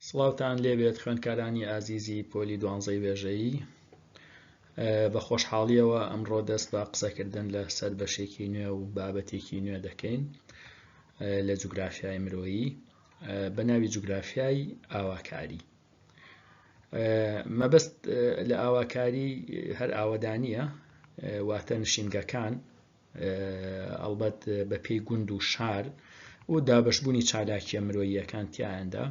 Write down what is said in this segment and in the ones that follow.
سڵاوتان لێبێت خوێندکارانی ئازیزی پۆلی دوانزەی وێژەیی بە خۆشحاڵیەوە ئەمڕۆ دەست بە قسەکردن لە سەر بەشێکی نوێ و بابەتێکی نوێ دەکەین لە جوگرافیای مرۆیی بە ناوی جوگرافیای ئاواکاری مەبەست لە ئاواکاری هەر ئاوەدانە واتە نشینگەکان ئەڵبەت بە پێی گوند و شار و دابشبوونی چالاکیە مرۆییەکان تیایاندا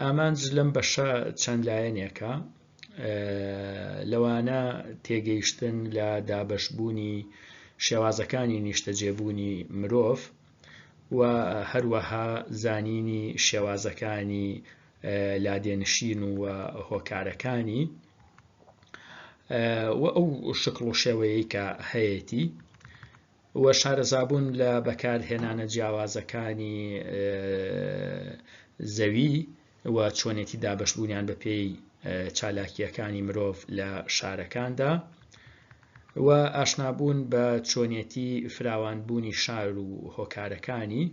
ئامانج لەم بەشە چەند لایەنێکە لەوانە تێگەیشتن لە دابشبوونی شێوازەکانی نیشتەجێبوونی مرۆڤ و هەروەها زانینی شێوازەکانی لادێنشین و هۆکارەکانی و ئەو شکڵ و شێوەیەی کە هەیەتی و شارەزابوون لە بەکارهێنانە جیاوازەکانی زەوی و چۆنێتی دابشبوونیان بە پێی چالاکیەکانی مرۆڤ لە شارەکاندا و ئاشنابوون بە چۆنێتی فراوانبوونی شار و هۆکارەکانی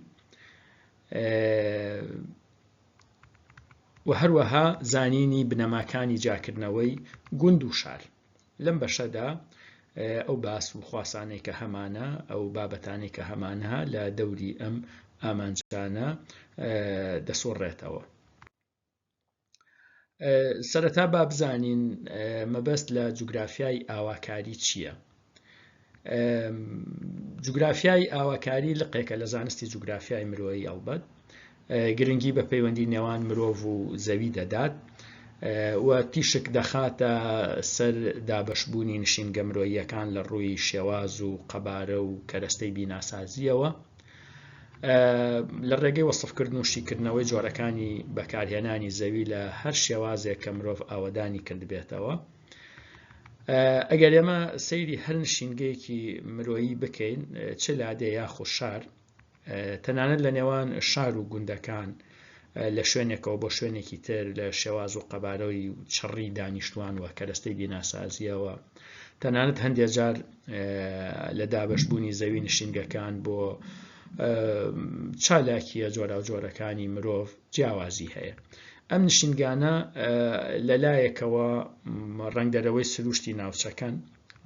و هەروەها زانینی بنەماکانی جیاکردنەوەی گوند و شار لەم بەشەدا ئەو باس و خواسانەی کە هەمانە ئەو بابەتانی کە هەمانە لە دەوری ئەم ئامانجانە دەسۆڕێتەوە سەرەتا با بزانین مەبەست لە جوگرافیای ئاواکاری چییە؟ جوگرافیای ئاواکاری لقێکە لە زانستی جوگرافیای مرۆیی ئەڵبەت گرنگی بە پەیوەندی نێوان مرۆڤ و زەوی دەدات و تیشک دەخاتە سەر دابشبوونی نشینگە مرۆییەکان لە ڕووی شێواز و قەبارە و کەرەستەی بیناسازیەوە لە ڕێگەی وەصفکردن و شیکردنەوەی جۆرەکانی بەکارهێنانی زەوی لە هەر شێوازێک کە مرۆڤ ئاوەدانی کردبێتەوە ئەگەر ئێمە سەیری هەر نشینگەیەکی مرۆیی بکەین چ لادێ یاخۆ شار تەنانەت لە نێوان شار و گوندەکان لە شوێنێکەوە بۆ شوێنێکی تر لە شێواز و قەبارەوەی و چڕی دانیشتوان و کەرەستەی بیناسازیەوە تەنانەت هەندێک جار لە دابشبوونی زەوی نشینگەکان بۆ چالاکیە جۆرا و جۆرەکانی مرۆڤ جیاوازی هەیە. ئەم نشینگانە لە لایەکەوە ڕەنگدەرەوەی سروشتی ناوچەکەن،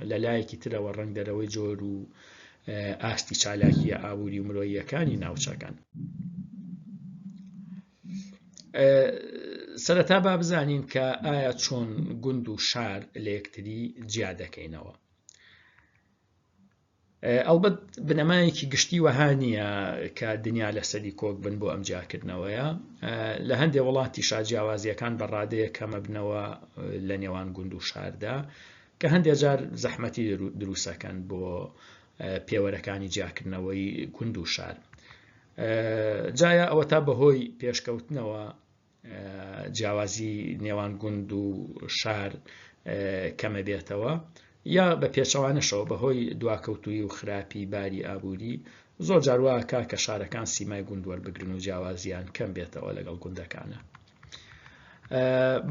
لە لایەکی ترەوە ڕەنگدەرەوەی جۆر و ئاستی چالاکیە ئابووری و مرۆییەکانی ناوچەکەن. سەرەتا با بزانین کە ئایا چۆن گوند و شار لە یەکتری جیا دەکەینەوە. ئەڵبەت بنەمایەکی گشتی وەها نییە کە دنیا لەسەری کۆک بن بۆ ئەم جیاکردنەوەیە لە هەندێک وڵاتی شاجیاوازیەکان بە ڕادەیە کەمەبنەوە لە نێوان گوند و شاردا کە هەندێک جار زەحمەتی دروستەکەن بۆ پێوەرەکانی جیاکردنەوەی گوند و شار جایا ئەوە تا بەهۆی پێشکەوتنەوە جیاوازی نێوان گوند و شار کەمە بێتەوە یا بە پێچەوانەشەوە بەهۆی دواکەوتوی و خراپی باری ئابووری زۆر جارواکە کە شارەکان سیمای گوند وەربگرن و جیاوازیان کەم بێتەوە لەگەڵ گوندەکانە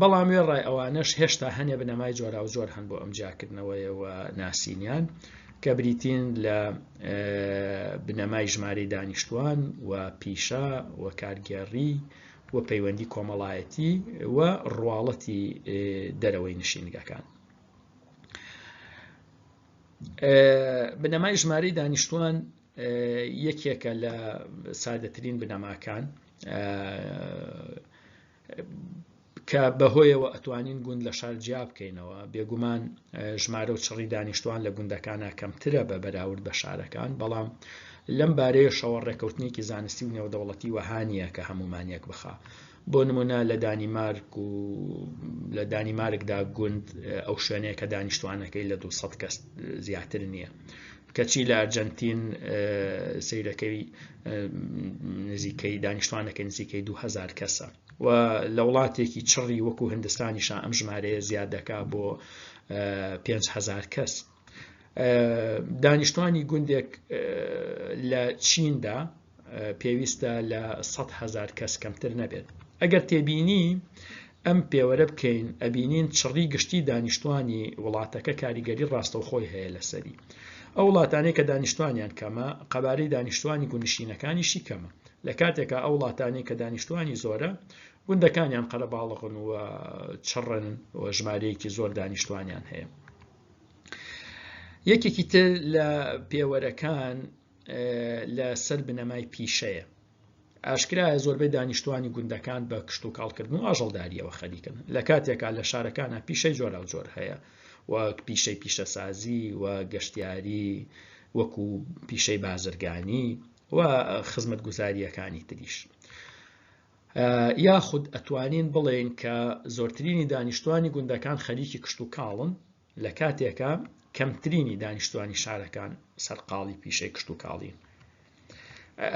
بەڵام وێ ڕای ئەوانەش هێشتا هەنێ بنەمای جۆرا و جۆر هەن بۆ ئەم جیاکردنەوەیەوە ناسینیان کە بریتین لە بنەمای ژمارەی دانیشتوان و پیشە و کارگێڕی و پەیوەندی کۆمەڵایەتی و ڕواڵەتی دەرەوەی نشینگەکان. بنەمای ژمارەی دانیشتوان یەکێکە لە سادەترین بنەماکان کە بەهۆیەوە ئەتوانین گوند لە شار جیا بکەینەوە بێگومان ژمارە و چڕی دانیشتوان لە گوندەکانە کەمترە بە بەراورد بە شارەکان بەڵام لەم بارەیەشەوە ڕێکەوتنێکی زانستی و نێودەوڵەتی وەها نییە کە هەموومان یەک بخا بۆ نمونە لە دانیمارک و لە دانیمارکدا گوند ئەو شوێنەیە کە دانیشتوانەکەی لە 200 کەس زیاتر نییە کەچی لە ئەرجەنتین سیرەکەی نزیکەی دانیشتوانەکە نزیکەی 2000 کەسە و لە وڵاتێکی چڕی وەکو هندستانیشە ئەم ژمارەیە زیاد دەکا بۆ 5هزار کەس دانیشتوانی گوندێک لە چیندا پێویستە لە 100 هزار کەس کەمتر نەبێت ئەگەر تێبینی ئەم پێوەرە بکەین ئەبینین چڕی گشتی دانیشتوانی وڵاتەکە کاریگەری ڕاستەوخۆی هەیە لەسەری ئەو وڵاتانی کە دانیشتوانیان کەمە قەبارەی دانیشتوانی گونشینەکانیشی کەمە لە کاتێکا ئەو وڵاتانی کە دانیشتوانی زۆرە گوندەکانیان قەرەباڵغن و چڕن و ژمارەیەکی زۆر دانیشتوانیان هەیە یەکێکی تر لە پێوەرەکان لە سەر بنەمای پیشەیە ئاشکرایە زۆربەی دانیشتوانی گوندەکان بە کشت و کاڵکردن و ئاژەڵداریەوە خەریکن لە کاتێکا لە شارەکانە پیشەی جۆرا و جۆر هەیە وەک پیشەی پیشەسازی و گەشتیاری وەکو پیشەی بازرگانی و خزمەت گوزاریەکانی تریش یاخود ئەتوانین بڵێین کە زۆرترینی دانیشتوانی گوندەکان خەریکی کشت و کاڵن لە کاتێکە کەمترینی دانیشتوانی شارەکان سەرقاڵی پیشەی کشت و کاڵین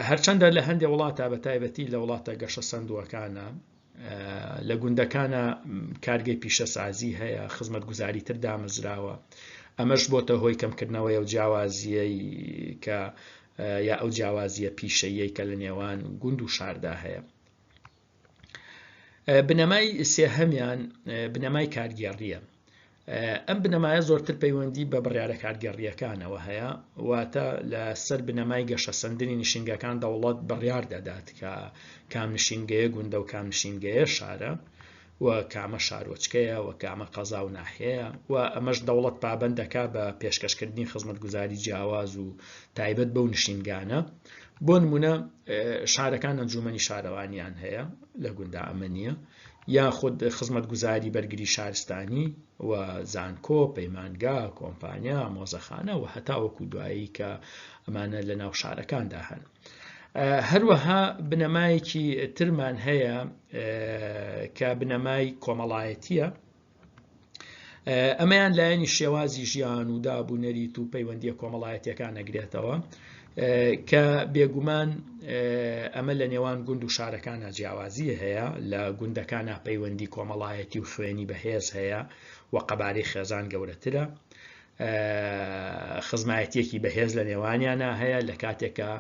هەرچەندە لە هەندێک وڵاتە بە تایبەتی لە وڵاتە گەشە سندووەکانە لە گوندەکانە کارگەی پیشەسازی هەیە خزمەت گوزاری تر دامەزراوە ئەمەش بۆتە هۆی کەمکردنەوەی و جیاوازیەی کە یا ئەو جیاوازییە پیشەییەی کە لە نێوان گوند و شاردا هەیە بنەمای سێهەمیان بنەمای کارگێڕیە ئەم بنەمایە زۆرتر پەیوەندی بە بڕیاە کارگەڕیەکانەوە هەیە واتە لە سەر بنەمای گەشە سندنی نشینگەکان دەوڵەت بڕیار دەدات کە کام نشینگەیە گوندە و کام نشینگەیە شارە و کامە شارۆچکەیە و کامە قەزا و ناحیەیە و ئەمەش دەوڵەت پابەند دەکات بە پێشکەشکردنی خزمەتگوزاری جیاواز و تایبەت بەو نشینگانە بۆ نمونە شارەکان ئەنجومەنی شارەوانیان هەیە لە گوندا ئەمە نییە یاخود خزمەتگوزاری بەرگری شارستانی و زانکۆ پەیمانگا کۆمپانیا مۆزەخانە و هەتا وەکو دوایی کە ئەمانە لە ناو شارەکاندا هەن هەروەها بنەمایەکی ترمان هەیە کە بنەمای کۆمەڵایەتیە ئەمەیان لایەنی شێوازی ژیان و داب و نەریت و پەیوەندیە کۆمەڵایەتەکان نەگرێتەوە کە بێگومان ئەمە لە نێوان گوند و شارەکانە جیاوازی هەیە لە گوندەکانە پەیوەندی کۆمەڵایەتی و خوێنی بەهێز هەیە و قەبارەی خێزان گەورەترە خزمایەتیەکی بەهێز لە نێوانیانە هەیە لە کاتێکە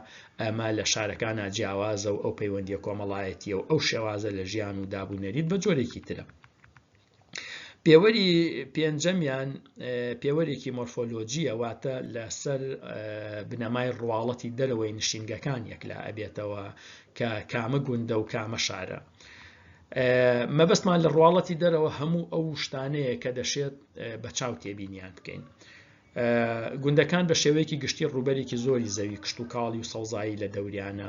ئەمە لە شارەکانە جیاوازە و ئەو پەیوەندیە کۆمەڵایەتیە و ئەو شێوازە لە ژیان و دابوونەریت بە جۆرێکی ترە پێوەری پێنجەمیان پێوەرێکی مۆرفۆلۆجیە واتە لەسەر بنەمای ڕواڵەتی دەرەوەی نشینگەکان یەکلا ئەبێتەوە کە کامە گوندە و کامە شارە مەبەستمان لە ڕواڵەتی دەرەوە هەموو ئەو شتانەیە کە دەشێت بە چاو تێبینیان بکەین گوندەکان بە شێوەیەکی گشتی ڕوبەرێکی زۆری زەوی کشت و کاڵی و سەوزایی لە دەوریانە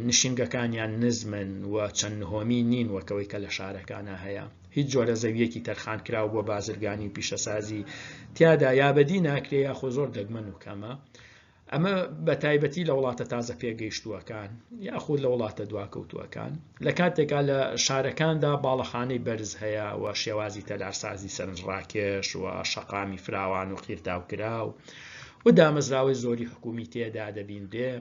نشینگەکانیان نزمن و چەند نهۆمی نین وەکەوەی کە لە شارەکانە هەیە هیچ جۆرە زەویەکی تەرخان کراو بۆ بازرگانی و پیشەسازی تیادا یابەدی ناکرێ یاخۆ زۆر دەگمەن و کەمە ئەمە بە تایبەتی لە وڵاتە تازە پێگەیشتووەکان یاخود لە وڵاتە دواکەوتووەکان لە کاتێکا لە شارەکاندا باڵەخانەی بەرز هەیە و شێوازی تەلارسازی سەرنجڕاکێش و شەقامی فراوان و قیرتاو کراو و دامەزراوەی زۆری حکومی تێدا دەبینرێ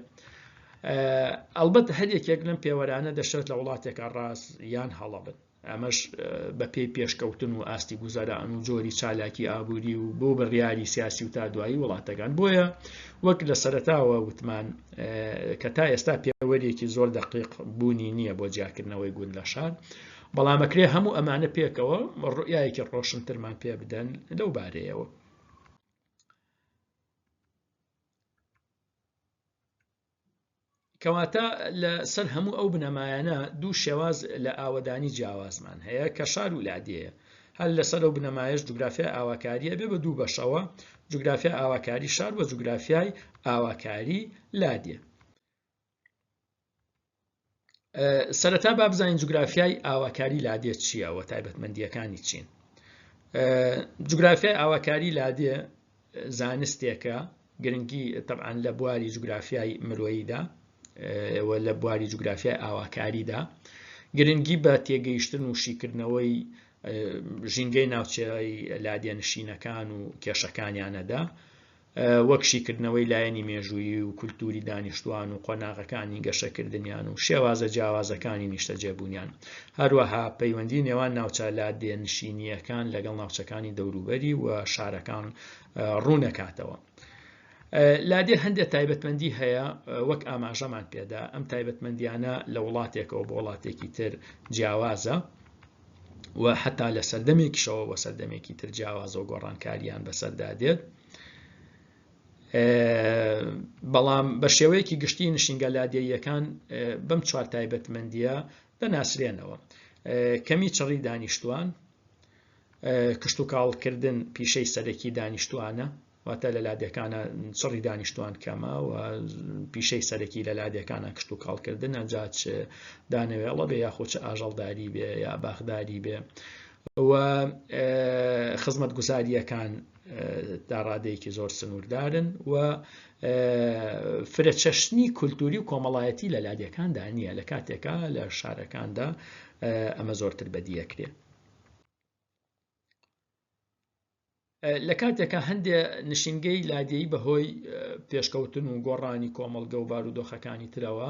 ئەلبەت هەر یەکێک لەم پێوەرانە دەشێت لە وڵاتێکە ڕاست یان هەڵەبن ئەمەش بەپێی پێشکەوتن و ئاستی گوزەران و جۆری چالاکی ئابووری و بۆ بڕیاری سیاسی و تا دوایی وڵاتەکان بۆیە وەک لە سەرتاوە وتمان کە تا ئێستا پێوەرێکی زۆر دەقیق بوونی نییە بۆ جیاکردنەوەی گوند لە شار بەڵامەکرێ هەموو ئەمانە پێکەوە ڕویایەکی ڕۆشنترمان پێ بدەن لەو بارەیەوە کەواتە لە سەر هەموو ئەو بنەمایانە دوو شێواز لە ئاوەدانی جیاوازمان هەیە کە شار و لادێیە هەر لەسەر ئەو بنەمایش جوگرافیا ئاواکاریە بێ بە دوو بەشەوە جوگرافیا ئاواکاری شار وە جوگرافیای ئاواکاری لادێ سەرەتا با بزانین جوگرافیای ئاواکاری لادێ چییە و تایبەتمەندیەکانی چین جوگرافیای ئاواکاری لادێ زانستێکە گرنگی طبعاان لە بواری جوگرافیای مرۆییدا لە بواری جوگرافیای ئاواکاریدا گرنگی بە تێگەیشتن و شیکردنەوەی ژینگەی ناوچەی لادێنشینەکان و کێشەکانیانەدا وەک شیکردنەوەی لایەنی مێژوویی و کولتووری دانیشتووان و قۆناغەکانی گەشەکردنیان و شێوازە جیاوازەکانی نیشتەجێبوونیان، هەروەها پەیوەندی نێوان ناوچە لادێنشینییەکان لەگەڵ ناوچەکانی دەوروبەری و شارەکان ڕوونەکاتەوە. لادێ هەندێک تایبەتمەندی هەیە وەک ئاماژەمان پێدا ئەم تایبەتمەندیانە لە وڵاتێکەوە بۆ وڵاتێکی تر جیاوازە و حتا لە سەردەمێکیشەوە بە سەردەمێکی تر جیاوازەوە گۆڕانکاریان بەسەردا دێت بەڵام بە شێوەیەکی گشتی نشینگە لادێیەکان بەم چوار تایبەتمەندیە دەناسرێنەوە کەمی چڕی دانیشتوان کشت و کاڵکردن پیشەی سەرەکی دانیشتوانە واتە لە لادێکانە چڕی دانیشتوان کەمە و پیشەی سەرەکی لە لادێکانە کشت و کاڵکردنە جاچ دانەوێڵە بێ یاخۆ چ ئاژەڵداری بێ یا باخداری بێ و خزمەت گوزاریەکان داڕادەیەکی زۆر سنووردارن و فرە چەشنی کولتوری و کۆمەڵایەتی لە لادێکاندا نییە لە کاتێکا لە شارەکاندا ئەمە زۆرتر بەدیەکرێت لە کاتێکا هەندێ نشینگەی لادێیی بەهۆی پێشکەوتن و گۆڕانی کۆمەڵگە و بارودۆخەکانی ترەوە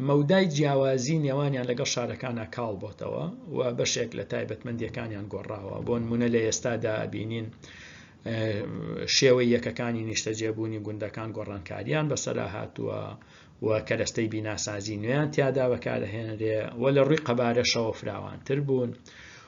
مەودای جیاوازی نێوانیان لەگەڵ شارەکانە کاڵ بۆتەوە و بەشێک لە تایبەتمەندیەکانیان گۆڕاوە بۆن منە لە ئێستادا بینین شێوەی یەکەکانی نیشتەجێبوونی گوندەکان گۆڕانکاریان بەسەرا هاتووە و کەرەستەی بیناسازی نوێیان تیادا بەکارهێنرێ و لە ڕووی قەبارەشەوە فراوانتر بوون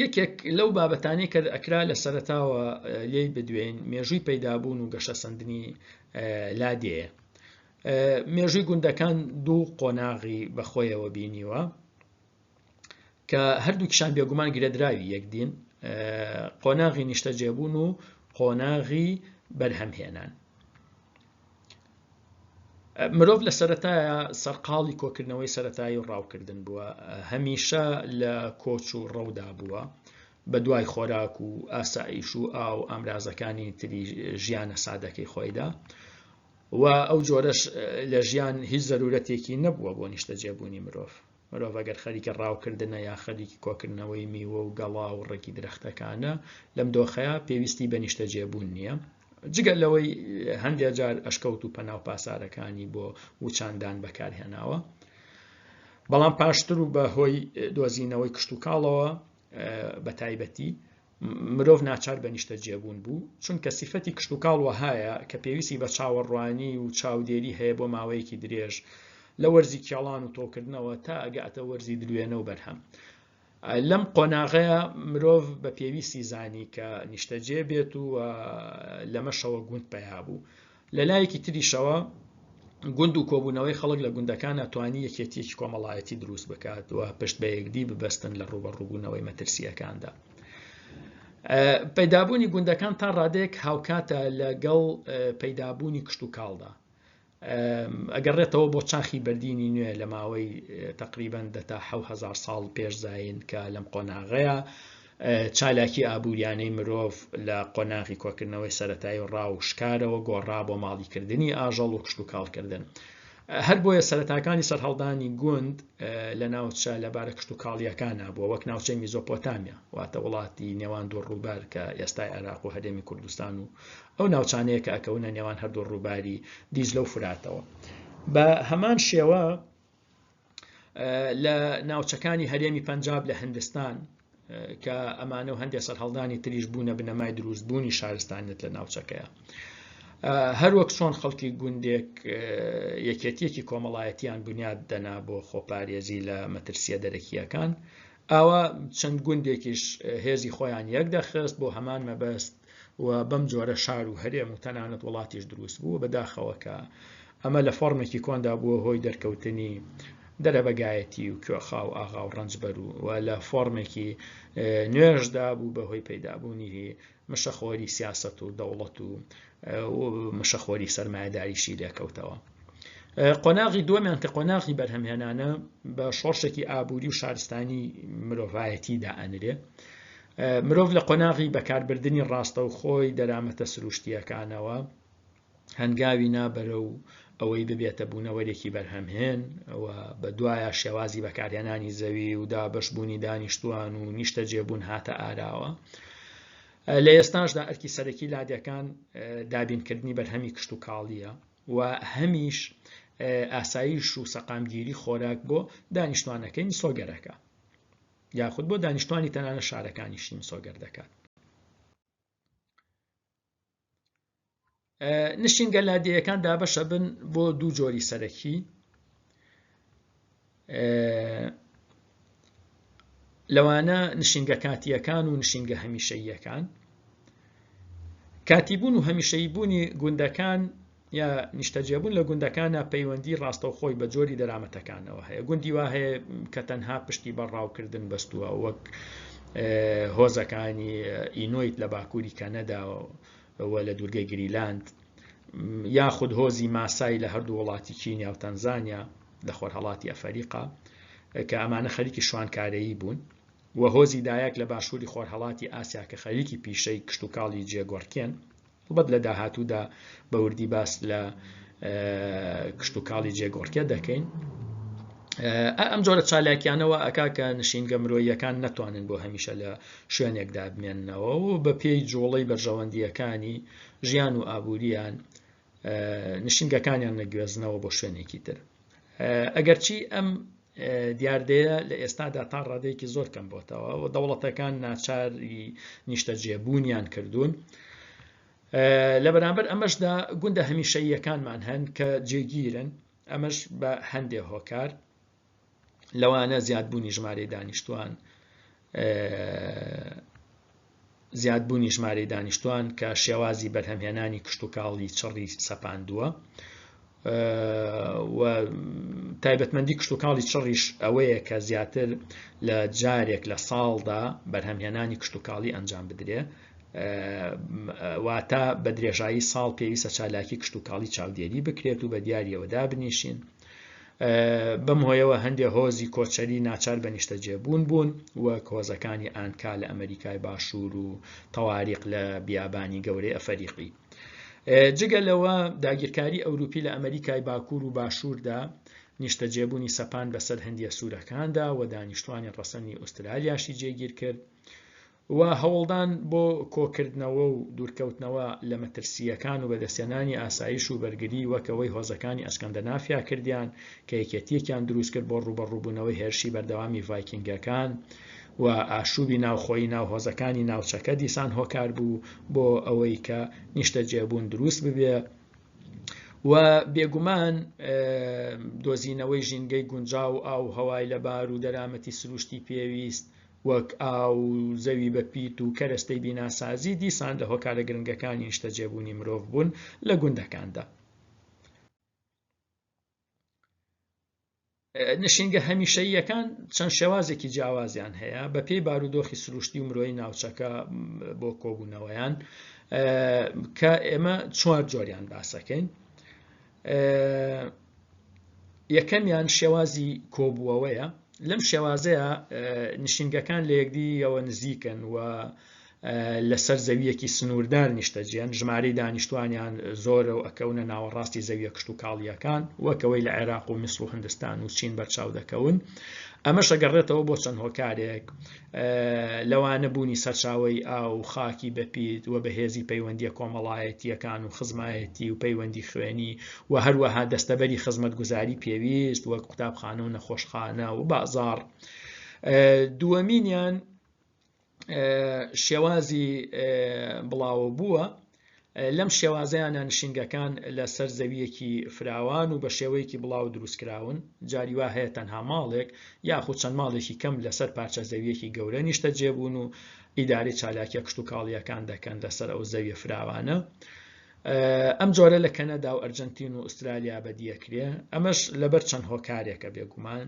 یەکێک لەو بابەتانی کە ئەکرا لە سەرتاوە لێی بدوێن مێژووی پەیدابوون و گەشە سندنی لادێە مێژووی گوندەکان دوو قۆناغی بەخۆیەوە بینیوە کە هەردوو کشان بێگومان گرێدراوی یەکدین قۆناغی نیشتەجێبوون و قۆناغی بەرهەمهێنان مرۆڤ لە سەرەتایە سەرقاڵی کۆکردنەوەی سەرەتایی و ڕاوکردن بووە هەمیشە لە کۆچ و ڕەودا بووە بە دوای خۆراک و ئاسایش و ئاو ئامرازەکانی تری ژیانە سادەکەی خۆیدا و ئەو جۆرەش لە ژیان هیچ زەرورەتێکی نەبووە بۆ نیشتەجێبوونی مرۆڤ مرۆڤ ئەگەر خەریکی ڕاوکردنە یا خەریکی کۆکردنەوەی میوە و گەڵا و ڕێکی درەختەکانە لەم دۆخەیە پێویستی بە نیشتەجێبوون نییە جگە لەوەی هەندێک جار ئەشکەوت و پەناو پاسارەکانی بۆ وچاندان بەکارهێناوە بەڵام پاشتر و بە هۆی دۆزینەوەی کشت و کاڵەوە بە تایبەتی مرۆڤ ناچار بە نیشتەجێبوون بوو، چونکە سیفەتی کشتوکاڵ وەهایە کە پێویستی بە چاوەڕوانی و چاودێری هەیە بۆ ماوەیەکی درێژ، لە وەرزی کێڵان و تۆوکردنەوە تا ئەگاتە وەرزی دروێنە و بەرهەم. لەم قۆناغەیە مرۆڤ بە پێویستی زانی کە نیشتەجێ بێت و لەمەشەوە گوند پەیا بوو. لە لایەکی تریشەوە گوند و کۆبوونەوەی خەڵک لە گوندەکانە توانی یەکێتیەکی کۆمەڵایەتی دروست بکات و پشت بە یەکدی ببەستن لە ڕوبە ڕووبوونەوەی مەترسیەکاندا. پەیدابوونی گوندەکان تا ڕادێک هاوکاتە لەگەڵ پەیدابوونی کشت و کاڵدا ئەگەڕێتەوە بۆ چاخی بەردینی نوێ لە ماوەی تقریبان دەتا هزار ساڵ پێش زین کە لەم قۆناغەیە چالاکی ئابووریانەی مرۆڤ لە قۆناغی کۆکردنەوەی سەرەتایی و ڕاو شکارەوە گۆڕا بۆ ماڵیکردنی ئاژەڵ و کشتوکاڵکردن. هەر بۆیە سەرەتاکانی سەرهەڵدانی گوند لە ناوچە لەبارە کشتوکاڵییەکانە بووە وەک ناوچەی میزۆپۆتامیا واتە وڵاتی نێوان دوو ڕووبار کە ئێستای عێراق و هەرێمی کوردستان و ئەو ناوچانەیە کە ئەکەونە نێوان هەردوو ڕووباری دیجلە و فراتەوە بە هەمان شێوە لە ناوچەکانی هەرێمی پەنجاب لە هندستان کە ئەمانە و هەندێک سەرهەڵدانی تریش بوونە بنەمای دروست بوونی شارستانیت لە ناوچەکەیە هەروەک چۆن خەڵکی گوندێک یەکێتیەکی کۆمەڵایەتیان بنیاد دەنا بۆ خۆپارێزی لە مەترسیە دەرەکیەکان ئاوا چەند گوندێکیش هێزی خۆیان یەک دەخست بۆ هەمان مەبەست و بەم جۆرە شار و هەرێم و تەنانەت وڵاتیش دروست بوو بەداخەوە کە ئەمە لە فۆرمێکی کۆندا بووە هۆی دەرکەوتنی دەرەبەگایەتی و کوێخا و ئاغا و ڕەنجبەر و لە فۆرمێکی نوێژدا بوو بەهۆی پەیدابوونی مشەخۆری سیاسەت و دەوڵەت و مشەخۆری سەرمایهداریشی لێکەوتەوە قۆناغی دووەمیان کە قۆناغی بەرهەمهێنانە بە شۆڕشێکی ئابووری و شارستانی مرۆڤایەتی دائەنرێ مرۆڤ لە قۆناغی بەکاربردننی ڕاستەوخۆی دەرامەتە سروشتیەکانەوە هەنگاوی نا بەرەو ئەوەی ببێتە بوونەوەرێکی بەرهەمهێن و بە دوایە شێوازی بەکارهێنانی زەوی و دابەشبوونی دانیشتوان و نیشتە جێبوون هاتە ئاراوە لە ئێستاشدا ئەرکی سەرەکی لادەکان دابینکردنی بەرهەمی کشت و کاڵیە و هەمیش ئاسایش و سەقامگیری خۆراک بۆ دانیشتوانەکەی مسۆگەرەکە یاخود بۆ دانیشتوانی تەنانە شارەکانیشی مسۆگەر دەکات نشینگە لادێیەکان دابەشە بن بۆ دوو جۆری سەرەکی لەوانە نشینگە کاتیەکان و نشینگە هەمیشەییەکان کاتیبوون و هەمیشەی بوونی گوندەکان یا نیشتەجێبوون لە گوندەکانە پەیوەندی ڕاستەوخۆی بە جۆری دەرامەتەکانەوە هەیە گوندی وا هەیە کە تەنها پشتی بە ڕاوکردن بەستووە وەک هۆزەکانی ئینۆیت لە باکووری کەنەداوە لە دوورگەی گریلاند یاخود هۆزی ماسای لە هەردوو وڵاتی کینیا و تەنزانیا لە خۆرهڵاتی ئەفریقا کە ئەمانە خەریکی شوانکارەیی بوون و هۆزی دایەک لە باشووری خۆرهڵاتی ئاسیا کە خەریکی پیشەی کشتتوکاڵی جێگۆڕکێن هەڵبەت لە داهاتوودا بە وردی باس لە کشتتوکاڵی جێگۆڕکێ دەکەین ئەم جۆرە چالاکیانەوە ئەک کە نشینگە مرۆیەکان نەتوانن بۆ هەمیشە لە شوێنێکدا بمێننەوە و بە پێی جوڵەی بەرژەوەندیەکانی ژیان و ئابووریان نشینگەکانیان نەگوێزنەوە بۆ شوێنێکی تر ئەگەرچی ئەم دیاردەیە لە ئێستادا تا ڕادێکی زۆر کەم بۆتەوە و دەوڵەتەکان ناچاری نیشتەجێبوونیان کردوون. لە بەرامبەر ئەمەشدا گوندە هەمیشەیەکانمان هەن کە جێگیرن ئەمەش بە هەندێ هۆکار لەوانە زیادبوونی ژمارەی دانیشتوان زیادبوونی ژمارەی دانیشتوان کە شێوازی بەرهەمهێنانی کشتتوکاڵی چڕی سەپاندووە و تایبەتمەندی کشتتوکاڵی چڕیش ئەوەیە کە زیاتر لە جارێک لە ساڵدا بەرهەمهێنانی کشتتوکاڵی ئەنجام بدرێ واتە بە درێژایی ساڵ پێویستە چالاکی کشتتوکاڵی چاودێری بکرێت و بە دیارەوە دابنیشین بەم هۆیەوە هەندێک هۆزی کۆچەری ناچار بە نیشتەجێبوون بوون وەک هۆزەکانی ئانکا لە ئەمریکای باشوور و تەواریق لە بیابانی گەورەی ئەفەریقی جگە لەوە داگیرکاری ئەوروپی لە ئەمریکای باکوور و باشووردا نیشتەجێبوونی سەپان بەسەر هەندیە سوورەکاندا و دانیشتوانی ڕەسەنی ئوسترالیاشی جێگیر کرد و هەوڵدان بۆ کۆکردنەوە و دوورکەوتنەوە لە مەترسییەکان و بەدەستهێنانی ئاسایش و بەرگری وەک ئەوەی هۆزەکانی ئەسکەندەنافیا کردیان کە یەکێتییەکیان دروست کرد بۆ ڕووبەڕووبوونەوەی هێرشی بەردەوامی ڤایکینگەکان و ئاشووبی ناوخۆیی ناو هۆزەکانی ناوچەکە دیسان هۆکار بوو بۆ ئەوەی کە نیشتەجێبوون دروست ببێ و بێگومان دۆزینەوەی ژینگەی گونجاو و ئاو و هەوای لەبار و دەرامەتی سروشتی پێویست وەک ئاو، زەوی بە پیت و کەرەستەی بیناسازی دیسان لە هۆکارە گرنگەکانی نیشتەجێبوونی مرۆڤ بوون لە گوندەکاندا. نشینگە هەمیشەییەکان چەند شێوازێکی جیاوازیان هەیە بە پێی بارودۆخی سروشتی و مرۆی ناوچەکە بۆ کۆبوونەوەیان کە ئێمە چوار جۆریان باسەکەین یەکەمیان شێوازی کۆبووەوەیە لەم شێوازەیە نشینگەکان لە یەکدیەوە نزیکن و لەسەر زەویەکی سنووردار نیشتەجێن ژمارەی دانیشتوانیان زۆرە و ئەکەونە ناوەڕاستی زەویە کشت و کاڵیەکان وەکەوەی لە عێراق و میسر و هندستان و چین بەرچاو دەکەون ئەمەش ئەگەڕێتەوە بۆ چەند هۆکارێک لەوانە بوونی سەرچاوەی ئاو و خاکی بەپیت و بەهێزی پەیوەندیە کۆمەڵایەتیەکان و خزمایەتی و پەیوەندی خوێنی و هەروەها دەستەبەری خزمەت گوزاری پێویست وەک قوتابخانە و نەخۆشخانە و بازار دووەمینیان شێوازی بڵاوە بووە لەم شێوازەیانە نشینگەکان لەسەر زەویەکی فراوان و بە شێوەیەکی بڵاو دروستکراون جاری وا هەیە تەنها ماڵێک یاخود چەند ماڵێکی کەم لەسەر پارچە زەویەکی گەورە نیشتە جێبوون و ئیداری چالاکیە کشت و کاڵیەکان دەکەن لەسەر ئەو زەویە فراوانە ئەم جۆرە لە کەنەدا و ئەرجنتین و ئوسترالیا بەدیەکرێ ئەمەش لەبەر چەند هۆکارێکە بێگومان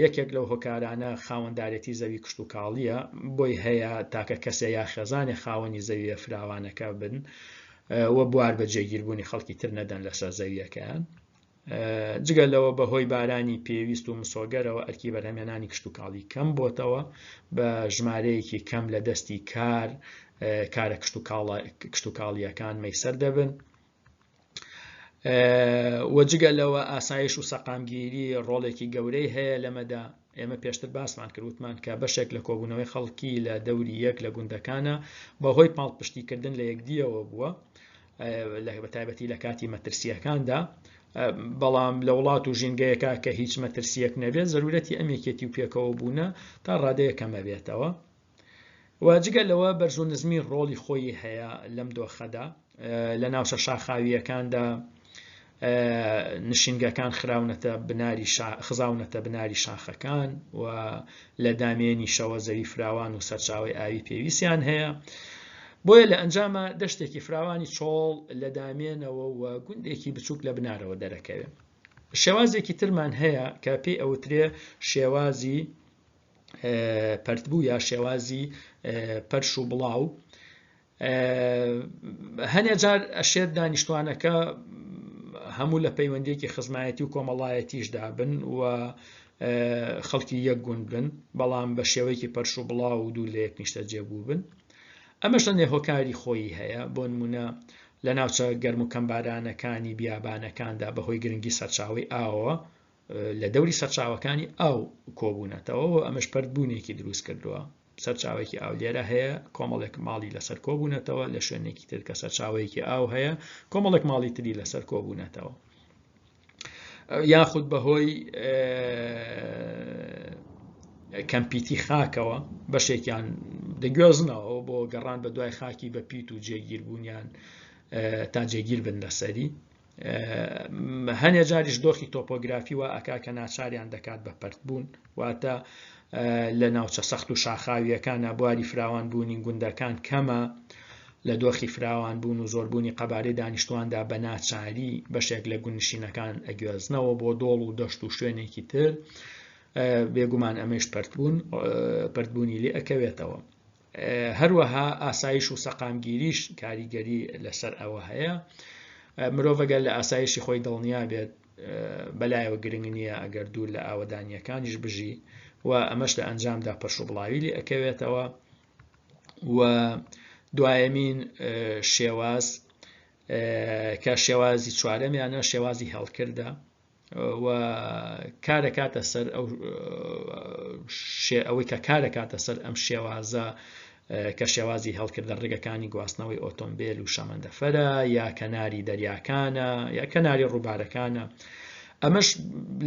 یەکێک لەو هۆکارانە خاوەندارێتی زەوی کشتوکاڵییە، بۆی هەیە تاکە کەسێ یا خێزانێ خاوەنی زەوییە فراوانەکە بن و بوار بە جێگیربوونی خەڵکی تر نەدەن لەسەر زەوییەکەیان. جگە لەوە بە هۆی بارانی پێویست و مسۆگەرەوە ئەرکی بەرهەمێنانی کشتتوکاڵی کەم بۆتەوە بە ژمارەیەکی کەم لە دەستی کار کارە کشتتوکاڵە کشتتوکاڵیەکان مەسەر دەبن و جگە لەوە ئاسایش و سەقامگیری ڕۆڵێکی گەورەی هەیە لەمەدا ئێمە پێشتر باسمان کردوتمان کە بەشێک لە کۆبوونەوەی خەڵکی لە دەوری یەک لە گوندەکانە بەهۆی پاڵپشتیکردن لە یەکدیەوە بووە لە بە تایبەتی لە کاتی مەترسیەکاندا بەڵام لە وڵات و ژینگەیەکە کە هیچ مەترسیەک نەبێت زەرورەتی ئەمێکێتی و پێکەوە بوونە تا ڕادەیە کەمە بێتەوە وە جگە لەوە بەرز و نزمی ڕۆڵی خۆیی هەیە لەم دۆخەدا لە ناوچە شاخاوییەکاندا نشینگەکان خراونەتە بناری خزاونەتە بناری شاخەکان و لە دامێنیشەوە زەوی فراوان و سەرچاوی ئاوی پێویستیان هەیە بۆیە لە ئەنجامە دەشتێکی فراوانی چۆڵ لە دامێنەوە و گوندێکی بچووک لە بنارەوە دەرەکەوێت شێوازێکی ترمان هەیە کە پێی ئەوترێ شێوازی پەرتبوو یا شێوازی پەرش و بڵاو هەنێ جار ئەشێت دانیشتوانەکە هەموو لە پەیوەندێکی خزمایەتی و کۆمەڵایەتیشدا بن و خەڵکی یەک گوند بن بەڵام بە شێوەیەکی پەرش و بڵاو و دوور لە یەک نیشتە جێبوو بن ئەمەش لە نێهۆکاری خۆی هەیە بۆ نمونە لە ناوچە گەرم و کەمبارانەکانی بیابانەکاندا بەهۆی گرنگی سەرچاوی ئاوە لە دەوری سەرچاوەکانی ئاو کۆبوونەتەوە و ئەمەش پردبوونێکی دروست کردووە سەرچاوێکی ئاو لێرە هەیە کۆمەڵێک ماڵی لەسەر کۆبوونەتەوە لە شوێنێکی تر کە سەرچاوەیەکی ئاو هەیە کۆمەڵێک ماڵی تری لەسەر کۆبوونەتەوە یاخود بەهۆی کەمپیتی خاکەوە بەشێکیان دەگوێزنەوە بۆ گەڕان بە دوای خاکی بە پیت و جێگیربوونیان تا جێگیر بن لەسەری هەنێ جاریش دۆخی تۆپۆگرافی وا ئەکا کە ناچاریان دەکات بە پەرتبوون واتە لە ناوچە سەخت و شاخاویەکان نابواری فراوان بوونی گوندەکان کەمە لە دۆخی فراوان بوون و زۆربوونی قەبارەی دانیشتواندا بە ناچاری بەشێک لە گونشینەکان ئەگوێزنەوە بۆ دۆڵ و دەشت و شوێنێکی تر بێگومان ئەمەش پەرتبوون پردبوونی لێ ئەکەوێتەوە هەروەها ئاسایش و سەقامگیریش کاریگەری لەسەر ئەوە هەیە مرۆڤەگەر لە ئاسایشی خۆی دڵنیا بێت بەلایەوە گرنگ نییە ئەگەر دوور لە ئاوەدانیەکانیش بژی و ئەمەش لە ئەنجامدا پەرش و بڵاوی لێ ئەکەوێتەوە و دوایەمین شێواز کە شێوازی چوارەمیانە شێوازی هەڵکردە و کارەکاتە سەر ئەوەی کە کارەکاتە سەر ئەم شێوازە کە شێوازی هەڵکردە ڕێگەکانی گواستنەوەی ئۆتۆمبیل و شەمەندەفەرە یا کەناری دەریاکانە یا کەناری ڕووبارەکانە ئەمەش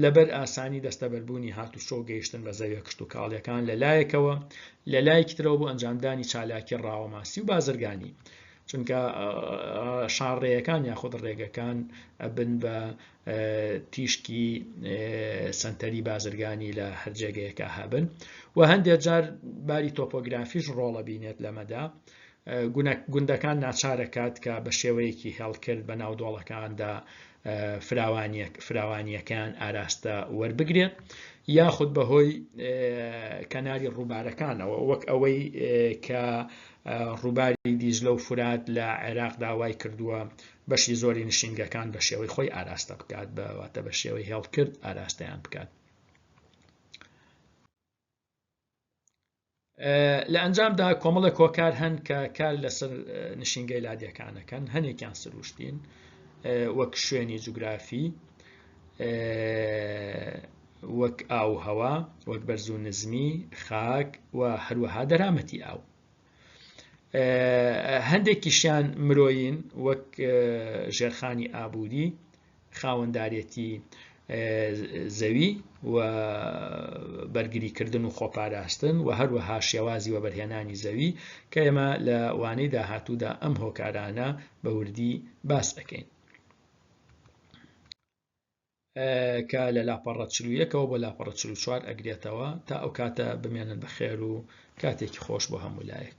لەبەر ئاسانی دەستەبەربوونی هاتوچۆ گەیشتن بە زەویە کشت و کاڵیەکان لە لایەکەوە لە لایەکی ترەوە بۆ ئەنجامدانی چالاکی ڕاوەماسی و بازرگانی چونکە شارڕێیەکان یاخود ڕێگەکان ئەبن بە تیشکی سەنتەری بازرگانی لە هەر جێگەیەکە هەبن و هەندێک جار باری تۆپۆگرافیش ڕۆڵە بینێت لەمەدا گوندەکان ناچارەکات کە بە شێوەیەکی هێڵکرد بە ناو دۆڵەکاندا فراوانیەکان ئاراستە وەربگرێت یاخود بەهۆی کەناری ڕووبارەکانەوە وەک ئەوەی کە ڕووباری دیزلە و فرات لە عێراق داوای کردووە بەشی زۆری نشینگەکان بە شێوەی خۆی ئاراستە بکات بەواتە بە شێوەی هێڵکرد ئاراستەیان بکات لە ئەنجامدا کۆمەڵە کۆکار هەن کە کار لەسەر نشینگەی لادیەکانەکەن هەنێکیان سروشتین وەک شوێنی جوگرافی وەک ئاو هەوا وەک بەرزوو نزمی خاک و هەروەها دەرامەتی ئاو هەندێکیشیان مرۆیین وەک ژێرخانی ئابووری خاوەندارەتی زەوی و بەرگریکردن و خۆپاراستن و هەروەها شێوازی وەبەرهێنانی زەوی کە ئێمە لە وانەی داهاتوودا ئەم هۆکارانە بە وردی باس ئەەکەین کە لە لاپەڕە چلویەکەوە بۆ لاپەڕە چل و چوار ئەگرێتەوە تا ئەو کاتە بمێنن بە خێر و کاتێکی خۆش بۆ هەموو لایەک